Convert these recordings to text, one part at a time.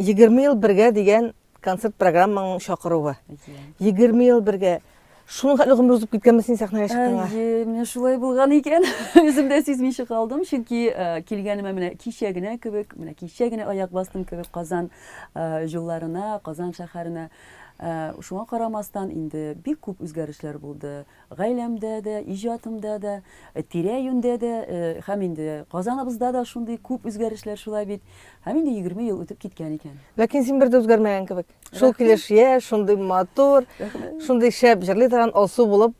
Егерме ел бергә дигән концерт программаның чакыруы. Егерме ел бергә. Шуның хәтле гомер узып киткәнме син сәхнәгә чыкканга? Әйе, менә шулай булган икән. Үзем дә сизмичә калдым, чөнки э, килгәнемә менә кичә генә кебек, менә кичә генә аяк бастым кебек Казан э, юлларына, Казан шәһәренә. Э, шуңа карамастан инде бик күп үзгәрешләр булды. Гаиләмдә дә, иҗатымда да, тирә-юньдә дә һәм инде Казаныбызда да шундый күп үзгәрешләр шулай бит. Һәм инде егерме ел үтеп киткән икән. Ләкин син бер дә үзгәрмәгән кебек. Шул килеш яшь, шундый матур, шундый шәп җырлый торган Алсу булып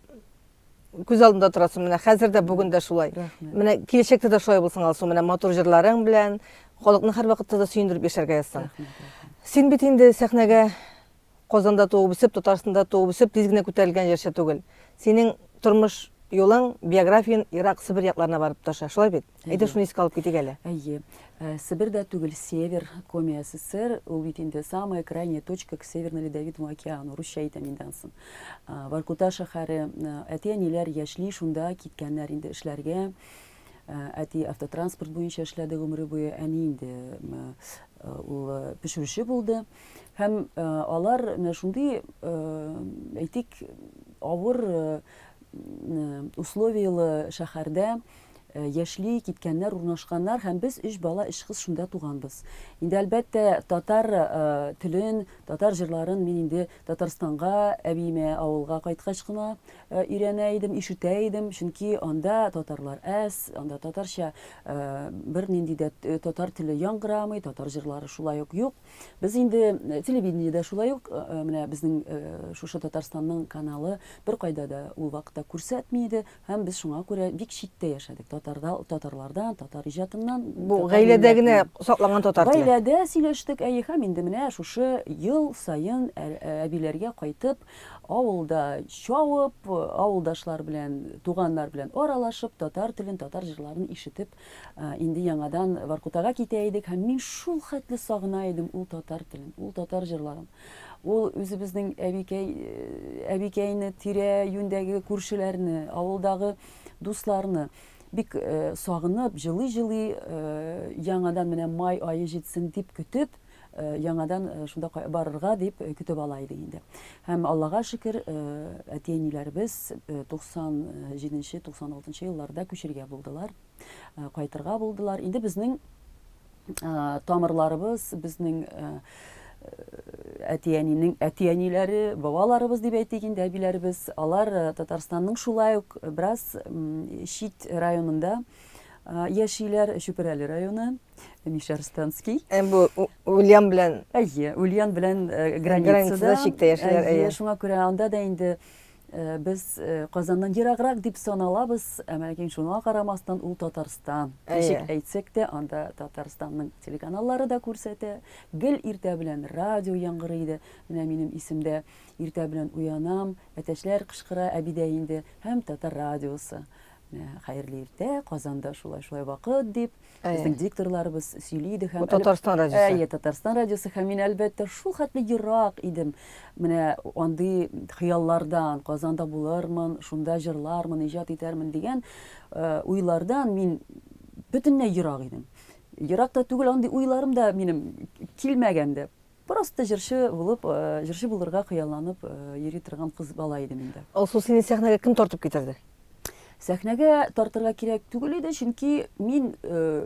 күз алдымда торасың. Менә хәзер дә, бүген дә шулай. Менә киләчәктә дә шулай булсын, Алсу. Менә матур җырларың белән халыкны һәрвакытта да сөендереп яшәргә язсын. Син бит инде сәхнәгә Казанда туып үсеп, Татарстанда туып үсеп, тиз генә күтәрелгән җырчы түгел. Синең тормыш юлың, биографияң Ирак, Себер якларына барып тоташа, шулай бит? Әйдә шуны искә алып китик әле. Әйе. Э, Себер дә түгел, Север, Коми СССР, ул бит инде самая крайняя точка к Северному Ледовитому океану, русча әйтәм инде ансын. Э, Воркута шәһәре, э, әти-әниләр яшьли, шунда киткәннәр инде эшләргә. Әти автотранспорт буенча эшләде гомере буе, әни инде ул пешерүче булды. Һәм алар менә шундый, әйтик, авыр условияле шәһәрдә Э, яшьли киткәннәр урнашканнар һәм без өч бала өч кыз шунда туганбыз инде әлбәттә татар э, телен татар җырларын мин инде татарстанга әбиемә авылга кайткач кына Өйрәнә идем, ишетә идем, чөнки анда татарлар әз, анда татарча бер нинди дә татар теле яңгырамый, татар җырлары шулай ук юк. Без инде телевидениедә шулай ук менә безнең шушы Татарстанның каналы беркайда да ул вакытта күрсәтми иде һәм без шуңа күрә бик читтә яшәдек татарда, татарлардан, татар иҗатыннан. Бу гаиләдә генә сакланган татар теле. Гаиләдә сөйләштек, әйе, һәм инде менә шушы ел саен әбиләргә кайтып, Авылда чауып, авылдашлар белән, туганнар белән аралашып, татар телен, татар җырларын ишетеп, инде яңадан Воркутага китә идек һәм мин шул хәтле сагына идем ул татар телен, ул татар җырларын. Ул үзебезнең әбикәй, әбикәйне, тирә юндәге күршеләрне, авылдагы дусларны бик сагынып, җылый-җылый яңадан менә май ае җитсен дип көтеп, яңадан шунда барырга дип көтеп ала иде инде. Һәм Аллага шөкер, әти-әниләребез 97-96 елларда күчергә булдылар, кайтырга булдылар. Инде безнең тамырларыбыз, безнең әти-әнинең әти-әниләре, бабаларыбыз дип әйтик инде, әбиләребез, алар Татарстанның шулай ук бераз чит районында яшиләр, Чүпрәле районы. Миша Арстанский. Ә бу Ульян белән. Әйе, Ульян белән э, границада чиктә яшиләр. Әйе, шуңа күрә анда да инде э, без э, Казаннан ераграк дип саналабыз, ә ләкин шуңа карамастан ул Татарстан. Ничек әйтсәк тә, анда Татарстанның телеканаллары да күрсәтә. Гел иртә белән радио яңгырый иде. Менә минем исемдә иртә белән уянам, әтәчләр кычкыра, әбидә инде һәм татар радиосы. Ә, хәерле иртә, Казанда шулай-шулай вакыт дип, безнең дикторларыбыз сөйли иде һәм... Бу Татарстан радиосы. Әйе, Татарстан радиосы һәм мин, әлбәттә, шул хәтле ерак идем. Менә андый хыяллардан, Казанда булырмын, шунда җырлармын, иҗат итәрмен дигән э, уйлардан мин бөтенләй ерак идем. Ерак та түгел, андый уйларым да минем килмәгән дә. Бер асты җырчы булып, җырчы булырга хыялланып йөри торган кыз бала идем инде. Алсу, сине сәхнәгә кем тартып китерде? Сәхнәгә тартырга кирәк түгел иде, чөнки мин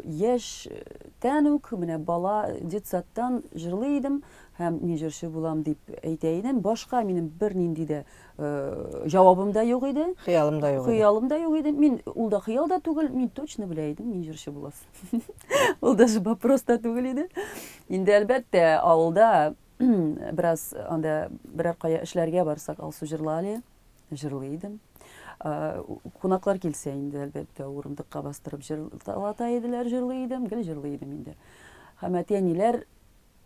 яшьтән үк, менә бала детсадтан җырлый идем һәм мин җырчы булам дип әйтә идем. Башка минем бернинди дә җавабым да юк иде. Хыялым да юк иде. Хыялым да юк иде. Мин ул да хыял да түгел, мин точно белә идем, мин җырчы булас. Ул даже вопрос та түгел иде. Инде әлбәттә, авылда бераз анда берәр кая эшләргә барсак, Алсу җырлали, җырлый идем. Кунаклар килсә инде әлбәттә урындыкка бастырып җырлата иделәр, җырлый идем, гел җырлый идем инде. Һәм әти-әниләр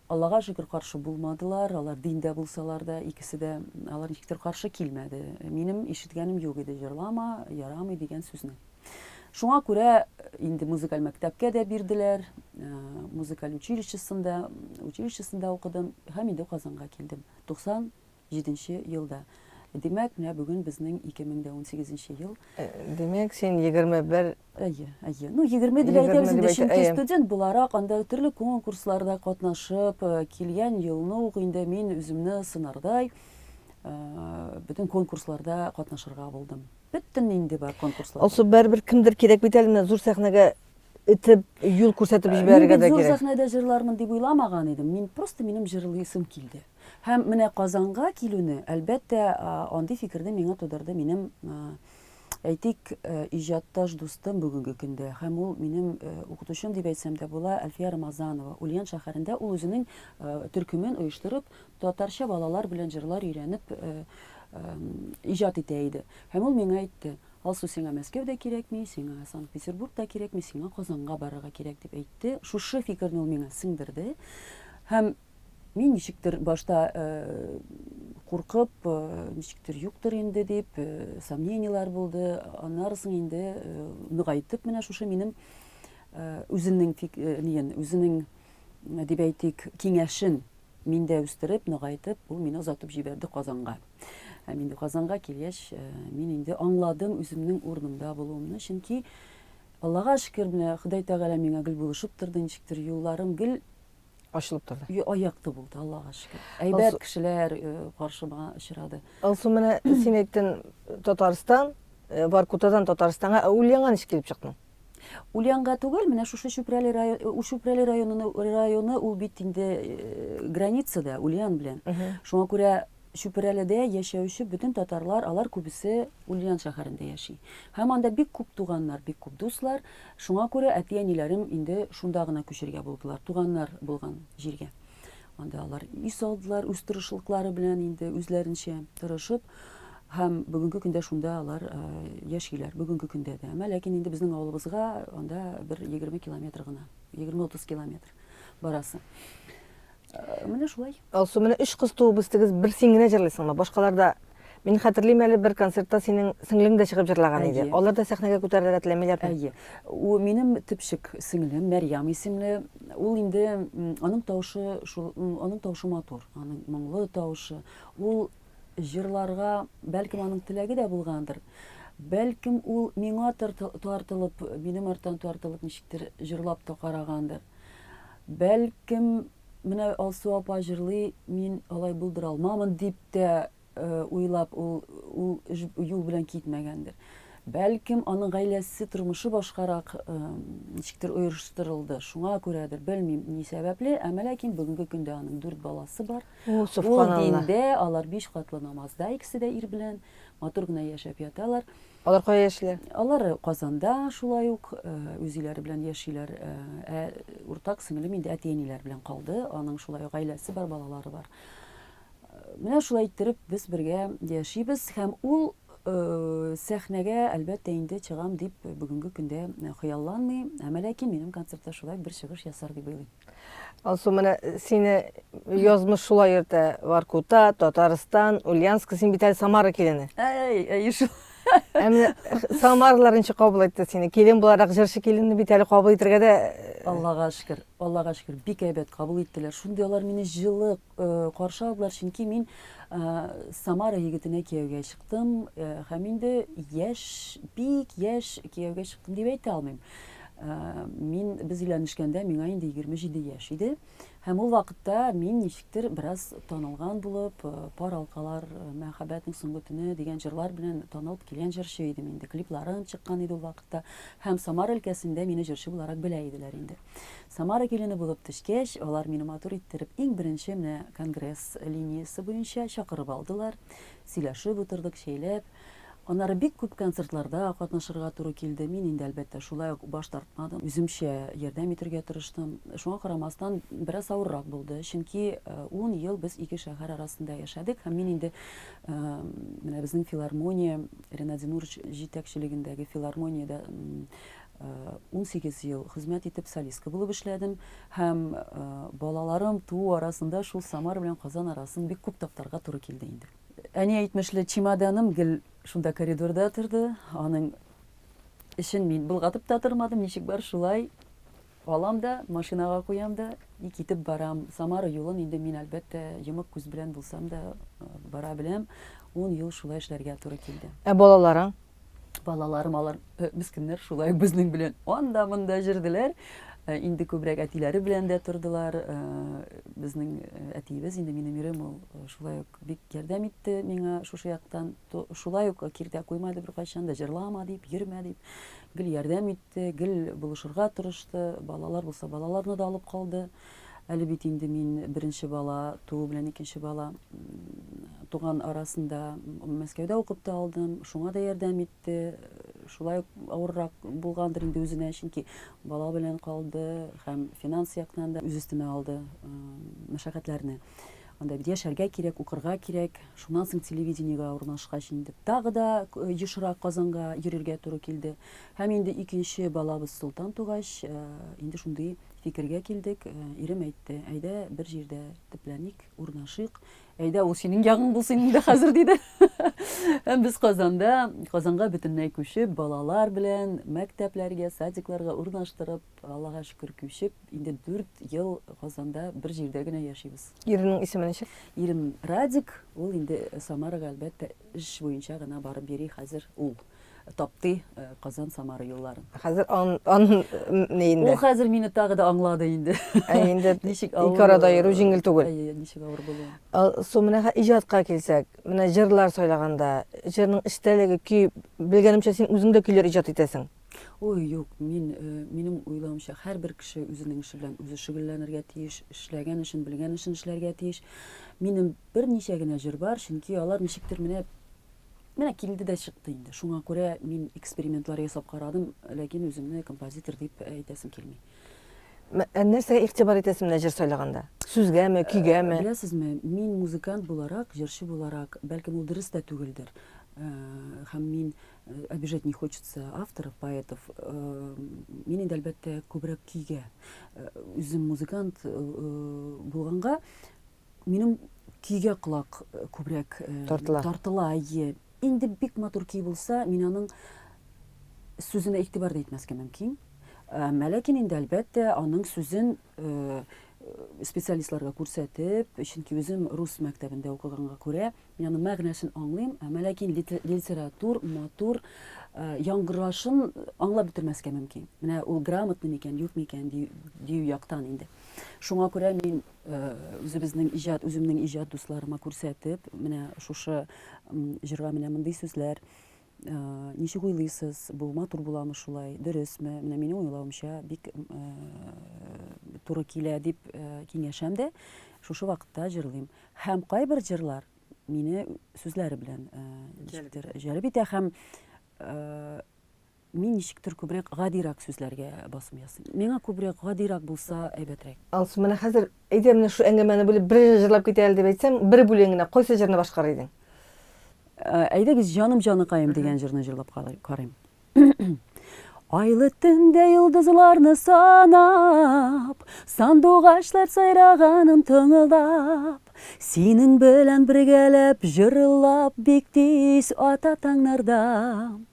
Аллага шөкер, каршы булмадылар, алар диндә булсалар да, икесе дә, алар ничектер каршы килмәде. Минем ишеткәнем юк иде, җырлама, ярамый дигән сүзне. Шуңа күрә инде музыкаль мәктәпкә дә бирделәр, э, музыкаль училищесында, училищесында укыдым һәм инде Казанга килдем. 90 Җиденче елда. Димәк, менә бүген безнең ике мең дә унсигез нче ел. Димәк, син егерме бер. Әйе, әйе. Ну, егерме дип әйтәбез инде, чөнки студент буларак, анда төрле конкурсларда катнашып, килгән елны ук инде мин үземне сынардай, бөтен конкурсларда катнашырга булдым. Бөтен нинди бар конкурслар. Алсу, бәрбер кемдер кирәк бит әле менә зур сәхнәгә итеп, юл күрсәтеп җибәрергә дә кирәк. Мин зур сәхнәдә җырлармын дип уйламаган идем. Мин просто минем җырлыйсым килде. Һәм менә Казанга килүне, әлбәттә, андый фикерне миңа тудырды минем, әйтик, иҗатташ дустым бүгенге көндә, һәм ул минем укытучым дип әйтсәм дә була, Әлфия Рамазанова. Ульян шәһәрендә ул үзенең төркемен оештырып, татарча балалар белән җырлар өйрәнеп иҗат итә иде. Һәм ул миңа әйтте, Алсу, сиңа Мәскәү дә кирәкми, сиңа Санкт-Петербург та кирәкми, сиңа Казанга барырга кирәк, дип әйтте. Шушы фикерне ул миңа сеңдерде. Һәм. Мин ничектер башта куркып, ничектер юктыр инде дип, сомненияләр булды. Аннарысын инде ныгайтып менә шушы минем үзенең ниен, үзенең дип әйтик, киңәшен миндә үстереп, ныгайтып, ул мине озатып җибәрде Казанга. Һәм инде Казанга килгәч, мин инде аңладым үземнең урынымда булуымны, чөнки Аллага шөкер, менә Ходай Тәгалә миңа гел булышып торды, ничектер юлларым гел Ачылып торды. Ю, аякты булды, Аллага шөкер. Әйбәт Алсу... кешеләр э, каршыма очрады. Алсу, менә син әйттең Татарстан, э, Воркутадан Татарстанга, ә Ульянга ничек килеп чыктың? Ульянга түгел, менә шушы Чүпрәле районы, э, Чүпрәле районы, районы ул бит инде границада Ульян белән. Шуңа күрә Чүпрәледә яшәүче бөтен татарлар, алар күбесе Ульян шәһәрендә яши. Һәм анда бик күп туганнар, бик күп дуслар. Шуңа күрә әти-әниләрем инде шунда гына күчергә булдылар, туганнар булган җиргә. Анда алар өй салдылар, үз тырышлыклары белән инде үзләренчә тырышып. Һәм бүгенге көндә шунда алар э, яшиләр, бүгенге көндә дә. Әмма ләкин инде безнең авылыбызга анда бер 20 километр гына, 20-30 километр барасы. Менә шулай. Алсу, менә өч кыз туып үстегез, бер син генә җырлыйсыңмы? Башкаларда Мин хәтерлим әле бер концертта синең сеңлең дә чыгып җырлаган иде. Алар да сәхнәгә күтәрелергә теләмиләр. Әйе. У минем типчек сеңлем Мәрьям исемле. Ул инде аның тавышы шул аның тавышы матур. Аның моңлы тавышы. Ул җырларга бәлкем аның теләге дә булгандыр. Бәлкем ул миңа тартылып, минем арттан тартылып ничектер җырлап та карагандыр. Бәлкем, менә Алсу апа җырлый, мин алай булдыра алмамын дип тә уйлап ул ул юл белән китмәгәндер. Бәлкем, аның гаиләсе, тормышы башкарак ничектер оештырылды. Шуңа күрәдер, белмим, ни сәбәпле, әмма ләкин бүгенге көндә аның дүрт баласы бар. Ул диндә, алар биш катлы намазда, икесе дә ир белән матур гына яшәп яталар. Алар кая яшиләр? Алар Казанда шулай ук үз өйләре белән яшиләр. Ә уртак сеңлем инде әти-әниләр белән калды. Аның шулай ук гаиләсе бар, балалары бар. Менә шулай иттереп без бергә яшибез һәм ул сәхнәгә әлбәттә инде чыгам дип бүгенге көндә хыялланмый. Әмма ләкин минем концертта шулай бер чыгыш ясар дип уйлыйм. Алсу, менә сине язмыш шулай йөртә. Воркута, Татарстан, Ульянск, син бит әле Самара килене. Әй, әй, шул. Ә менә самарлар ничек кабул итте сине? Килен буларак җырчы киленне бит әле кабул итәргә дә Аллага шөкер, Аллага шөкер, бик әйбәт кабул иттеләр. Шундый алар мине җылы, каршы алдылар, чөнки мин Самара егетенә кияүгә чыктым һәм инде яшь, бик яшь кияүгә чыктым дип әйтә алмыйм. Мин без өйләнешкәндә миңа инде 27 яшь иде һәм ул вакытта мин ничектер бераз танылган булып, пар алкалар, мәхәббәтнең соңгы төне дигән җырлар белән танылып килгән җырчы идем инде. Клипларым чыккан иде ул вакытта һәм Самара өлкәсендә мине җырчы буларак белә иделәр инде. Самара килене булып төшкәч, алар мине матур иттереп иң беренче менә конгресс линиясе буенча чакырып алдылар. Сөйләшеп утырдык, чәйләп. Аннары бик күп концертларда катнашырга туры килде. Мин инде, әлбәттә, шулай ук баш тартмадым. Үземчә ярдәм итергә тырыштым. Шуңа карамастан, бераз авыррак булды, чөнки э, ун ел без ике шәһәр арасында яшәдек һәм мин инде э, менә безнең филармония, Ренат Зинурович җитәкчелегендәге филармониядә Унсигез ел хезмәт итеп солистка булып эшләдем һәм балаларым туу арасында шул Самара белән Казан арасын бик күп таптарга туры килде инде. Әни әйтмешле, чемоданым гел шунда коридорда торды, аның эчен мин болгатып та тормадым, ничек бар шулай алам да, машинага куям да и китеп барам. Самара юлын инде мин әлбәттә йомык күз белән булсам да бара беләм. Ун ел шулай эшләргә туры килде. Ә балаларың? Балаларым алар э, мескеннәр шулай безнең белән анда монда җөрделәр. Э, инде күбрәк әтиләре белән дә тордылар. Э, безнең әтиебез инде минем ирем ул шулай ук бик ярдәм итте миңа шушы яктан. Шулай ук киртә куймады бер кайчан да җырлама дип, йөрмә дип. Гел ярдәм итте, гел булышырга тырышты. Балалар булса балаларны да алып калды. Әле бит инде мин беренче бала туу белән икенче бала туган арасында Мәскәүдә укып та алдым, шуңа да ярдәм итте. Шулай ук авыррак булгандыр инде үзенә, чөнки бала белән калды һәм финанс яктан да үз өстенә алды мәшәкатьләрне. Анда бит яшәргә кирәк, укырга кирәк. Шуннан соң телевидениегә урнашкач инде тагы да ешрак Казанга йөрергә туры килде. Һәм инде икенче балабыз Солтан тугач, инде шундый Фикергә килдек, э, ирем әйтте, әйдә бер җирдә төпләник, урнашыйк. Әйдә ул синең ягың булсын инде хәзер диде. Һәм без Казанда, Казанга бөтенләй күчеп, балалар белән мәктәпләргә, садикларга урнаштырып, Аллага шөкер күчеп, инде 4 ел Казанда бер җирдә генә яшибез. Иренең исеме ничек? Ирем Радик, ул инде Самарага әлбәттә эш буенча гына барып йөри хәзер ул. тапты Казан Самара юлларын. Хәзер ан ан не инде. Ул хәзер мине тагы да аңлады инде. Ә инде ничек авыр. Ике арада йөрү җиңел түгел. Әйе, ничек авыр булды. Су менә иҗатка килсәк, менә җырлар сайлаганда, җырның эчтәлеге көй белгәнемчә син үзең дә көйләр иҗат итәсең. Ой, юк, мин минем уйлавымча һәрбер кеше үзенең эше белән үзе шөгыльләнергә тиеш, эшләгән эшен, белгән эшен эшләргә тиеш. Минем берничә генә җыр бар, чөнки алар ничектер менә Менә килде дә чыкты инде. Шуңа күрә мин экспериментлар ясап карадым, ләкин үземне композитор дип әйтәсем килми. Ә нәрсәгә игътибар итәсең менә җыр сайлаганда? Сүзгәме, көйгәме? Беләсезме, мин музыкант буларак, җырчы буларак, бәлкем ул дөрес тә түгелдер. Һәм мин обижать не хочется авторов, поэтов. Мин инде әлбәттә күбрәк көйгә. Үзем музыкант булганга, Минем көйгә колак күбрәк тартыла. Тартыла, әйе. Инде бик матур көй булса, мин аның сүзенә игътибар да итмәскә мөмкин. Ләкин инде әлбәттә аның сүзен специалистларга күрсәтеп, чөнки үзем рус мәктәбендә укыганга күрә, мин аның мәгънәсен аңлыйм, әмма ләкин литератур, матур яңгырашын аңлап бетермәскә мөмкин. Менә ул грамотный микән, юк микән дию яктан инде. Шуңа күрә мин Үзебезнең иҗат, үземнең иҗат дусларыма күрсәтеп, менә шушы җырга менә мондый сүзләр, ничек уйлыйсыз, бу матур буламы шулай, дөресме? Менә минем уйлавымча бик туры килә дип киңәшәм дә, шушы вакытта җырлыйм. Һәм кайбер җырлар мине сүзләре белән җәлеп итә һәм Мин ничектер күбрәк гадирак сүзләргә басым ясыйм. Миңа күбрәк гадирак булса әйбәтрәк. Алсу, менә хәзер, әйдә, менә шул әңгәмәне бүлеп бер җыр җырлап китә әле дип әйтсәм, бер бүлеген генә, кайсы җырны башкарыр идең? Әйдәгез, Җаным җаныкаем дигән җырны җырлап карыйм. Айлы төндә йолдызларны санап, Сандугачлар сайраганын тыңлап, Синең белән бергәләп җырлап, Бик тиз ата таңнарда.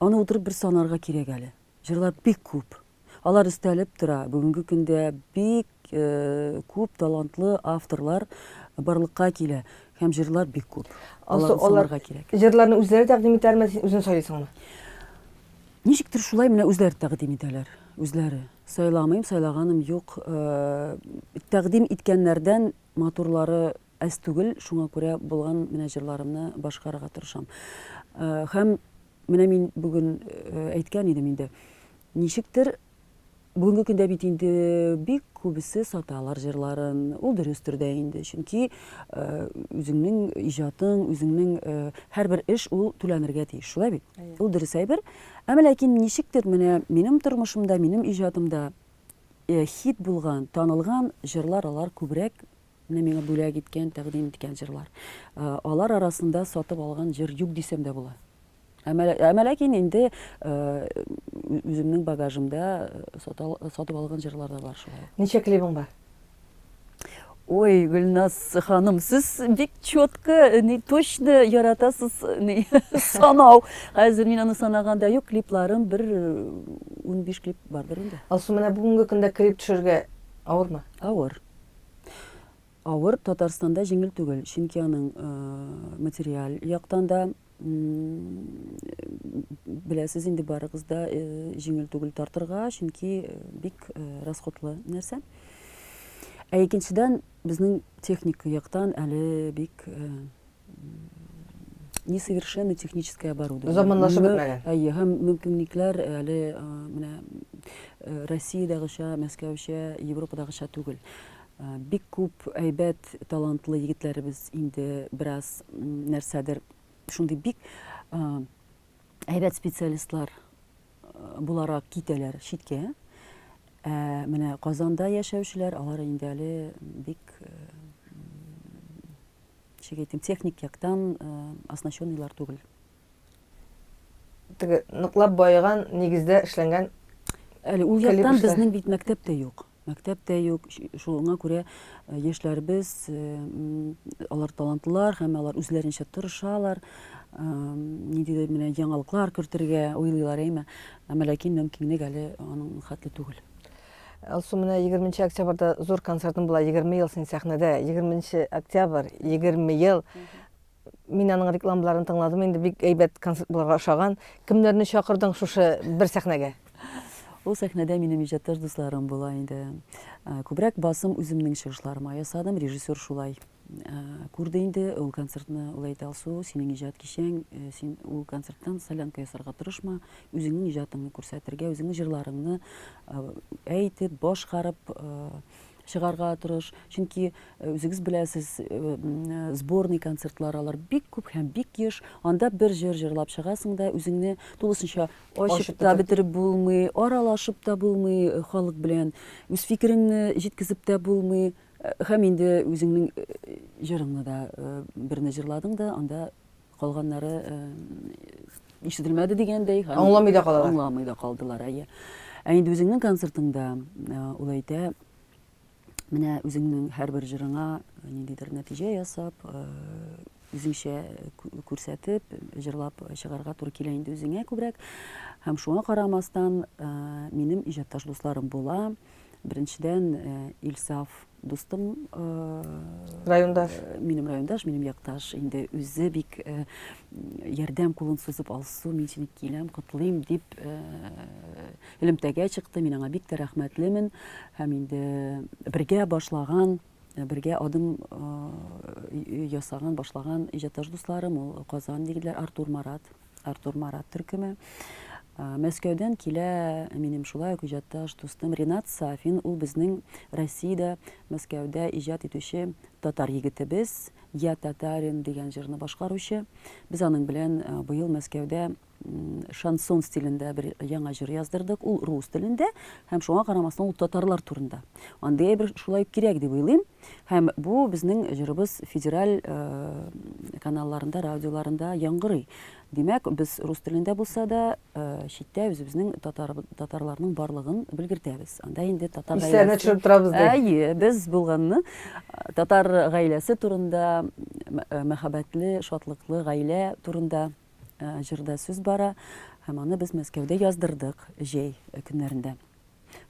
Аны утырып бер санарга кирәк әле. Җырлар бик күп. Алар өстәлеп тора. Бүгенге көндә бик күп талантлы авторлар барлыкка килә һәм җырлар бик күп. Алар санарга кирәк. Җырларны үзләре тәкъдим итәлме, син үзең сайлыйсыңмы? Ничектер шулай менә үзләре тәкъдим итәләр. Үзләре. Сайламыйм, сайлаганым юк. Тәкъдим иткәннәрдән матурлары Әз түгел, шуңа күрә булган менә җырларымны башкарырга тырышам. Һәм менә мин бүген әйткән идем инде, ничектер, бүгенге көндә бит инде бик күбесе саталар җырларын, ул дөрестер дә инде, чөнки үзеңнең иҗатың, үзеңнең һәрбер эш ул түләнергә тиеш, шулай бит? Ул дөрес әйбер. Әмма ләкин ничектер менә минем тормышымда, минем иҗатымда хит булган, танылган җырлар алар күбрәк Менә миңа бүләк иткән, тәкъдим иткән җырлар. Алар арасында сатып алган җыр юк дисәм дә була. Әмма ләкин инде үземнең багажымда сатып алган җырлар да бар шулай. Ничә клибың бар? Ой, Гөлназ ханым, сез бик четко, ни точно яратасыз, ни санау. Хәзер мин аны санаганда юк, клипларым бер 15 клип бардыр инде. Алсу, менә бүгенге көндә клип төшергә авырмы? Авыр. Авыр Татарстанда җиңел түгел, чөнки аның материаль яктан да беләсез инде барыгыз да җиңел түгел тартырга, чөнки бик расходлы нәрсә. Ә икенчедән, безнең техника яктан әле бик несовершенно техническое оборудование. Заманлашып бетмәгән. Әйе, һәм мөмкинлекләр әле менә Россиядәгечә, Мәскәүчә, Европадагыча түгел. Бик күп әйбәт, талантлы егетләребез инде бераз нәрсәдер шундый бик әйбәт специалистлар буларак китәләр читкә. Ә менә Казанда яшәүчеләр, алар инде әле бик ничек әйтим, техник яктан оснащенныйлар түгел. Теге ныклап баеган нигездә эшләнгән Әле ул яктан безнең бит мәктәп тә юк. Мәктәп тә юк. Шуңа күрә яшьләребез алар талантлар һәм алар үзләренчә тырышалар. Ниндидер менә яңалыклар кертергә уйлыйлар, әйме. Әмма ләкин мөмкинлек әле аның хәтле түгел. Алсу, менә 20 нче октябрьдә зур концертым була, 20 ел син сәхнәдә, 20 нче октябрь, 20 ел. Мин аның рекламаларын тыңладым, инде бик әйбәт концерт булырга ошаган. Кемнәрне чакырдың шушы бер сәхнәгә? Ул сәхнәдә минем иҗатташ дусларым була инде. Күбрәк басым үземнең чыгышларыма ясадым, режиссер шулай Ә, күрде инде ул концертны, ул әйтә Алсу, синең иҗат кичәң, э, син ул концерттан солянка ясарга тырышма, үзеңнең иҗатыңны күрсәтергә, үзеңнең җырларыңны э, әйтеп, башкарып э, чыгарга тырыш. Чөнки э, үзегез беләсез, э, м, э, сборный концертлар алар бик күп һәм бик еш. Анда бер җыр җырлап чыгасың да, үзеңне тулысынча Ачып ачып та бетереп. бетереп булмый, аралашып та булмый э, халык белән, үз фикереңне җиткезеп тә булмый. Һәм инде үзеңнең җырыңны да берне җырладың да, анда калганнары ишетелмәде дигәндәй. Аңламый да калалар. Аңламый да калдылар, әйе. Ә инде үзеңнең концертыңда ул әйтә, менә үзеңнең һәрбер җырыңа ниндидер нәтиҗә ясап, үзеңчә күрсәтеп, җырлап чыгарга туры килә инде үзеңә күбрәк. Һәм шуңа карамастан, минем иҗатташ дусларым була. Беренчедән, э, Илсаф дустым, э, райондаш, э, минем райондаш, минем якташ, инде үзе бик ярдәм кулын сузып алсу, мин сине киләм, котлыйм дип элемтәгә чыкты. Мин аңа бик тә рәхмәтлемен һәм инде бергә башлаган Бергә адым ясаган, башлаган иҗатташ дусларым ул Казан егетләр Артур Марат, Артур Марат төркеме. Мәскәүдән килә минем шулай ук иҗатташ дустым Ренат Сафин, ул безнең Россиядә, Мәскәүдә иҗат итүче татар егетебез, Я татарин дигән җырны башкаручы. Без аның белән быел Мәскәүдә Шансон стилендә бер яңа җыр яздырдык. Ул рус телендә һәм шуңа карамастан ул татарлар турында. Андый әйбер шулай ук кирәк дип уйлыйм. Һәм бу безнең җырыбыз федераль каналларында, радиоларында яңгырый. Димәк, без рус телендә булса да, читтә үзебезнең татар татарларның барлыгын белгертәбез. Анда инде татар гаиләсе. төшереп торабыз ди. Әйе, без булганны татар гаиләсе турында, мәхәббәтле, шатлыклы гаилә турында Җырда сүз бара, һәм аны без Мәскәүдә яздырдык җәй көннәрендә.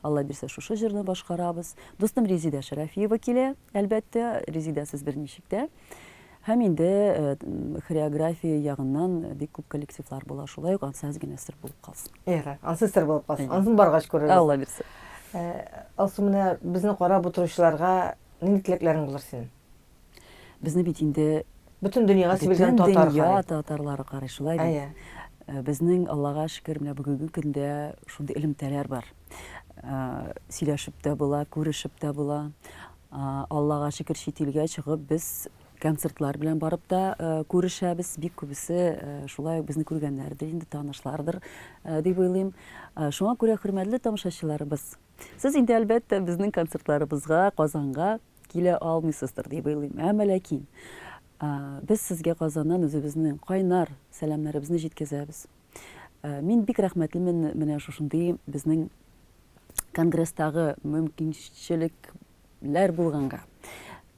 Алла бирсә, шушы җырны башкарабыз. Дустым Резидә Шәрәфиева килә, әлбәттә, Резидәсез берничек тә. Һәм инде хореография ягыннан бик күп коллективлар була, шулай ук ансыз генә сер булып калсын. Ярар, ансыз сер булып калсын. Ансын баргач күрербез. Алла бирсә. Алсу, менә безне карап утыручыларга нинди теләкләрең булыр синең? Безне бит инде бөтен дөньяга сибелгән татар дөнья татарлары карый шулай бит ә, ә. безнең аллага шөкер менә бүгенге көндә шундый элемтәләр бар ә, сөйләшеп тә була күрешеп тә була ә, аллага шөкер чит илгә чыгып без концертлар белән барып та ә, күрешәбез бик күбесе ә, шулай ук безне күргәннәрдер инде танышлардыр ә, дип уйлыйм ә, шуңа күрә хөрмәтле тамашачыларыбыз сез инде әлбәттә безнең концертларыбызга казанга килә алмыйсыздыр дип уйлыйм. Ә әмма ләкин без сезгә Казаннан үзебезнең кайнар сәламнәребезне җиткезәбез. Мин бик рәхмәтлемен менә шушындый безнең конгресстагы мөмкинчелекләр булганга.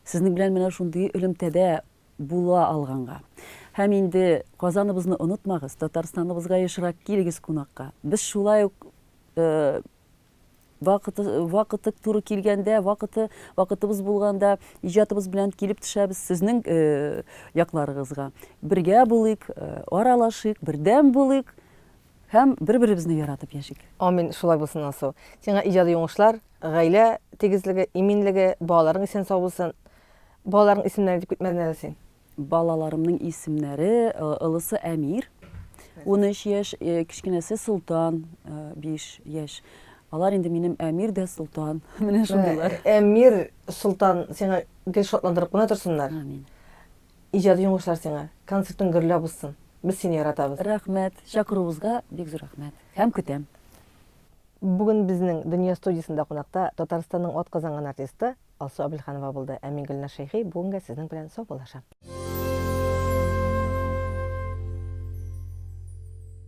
Сезнең белән менә шундый элемтәдә була алганга. Һәм инде Казаныбызны онытмагыз, Татарстаныбызга ешрак килегез кунакка. Без шулай ук э, Вакыты, вакыты туры килгәндә, вакыты, вакытыбыз булганда иҗатыбыз белән килеп төшәбез сезнең э, якларыгызга. Бергә булыйк, э, аралашыйк, бердәм булыйк һәм бер-беребезне яратып яшик. Амин, шулай булсын Алсу. Сиңа иҗади уңышлар, гаилә тигезлеге, иминлеге, балаларың исән сау булсын. Балаларың исемнәре дип китмәдең әле син. Балаларымның исемнәре, э, олысы Әмир, 13 яшь, э, кечкенәсе Солтан, 5 э, яшь. Алар инде минем Әмир дә Солтан. Менә шундыйлар. Әмир, Солтан, сиңа гел шатландырып кына торсыннар. Амин. Иҗади уңышлар сиңа. Концертың гөрләп узсын. Без сине яратабыз. Рәхмәт. Чакыруыгызга бик зур рәхмәт. Һәм көтәм. Бүген безнең Дөнья студиясендә кунакта Татарстанның атказанган артисты Алсу Абелханова булды, ә мин Гөлнар Шәйхи бүгенгә сезнең белән саубуллашам.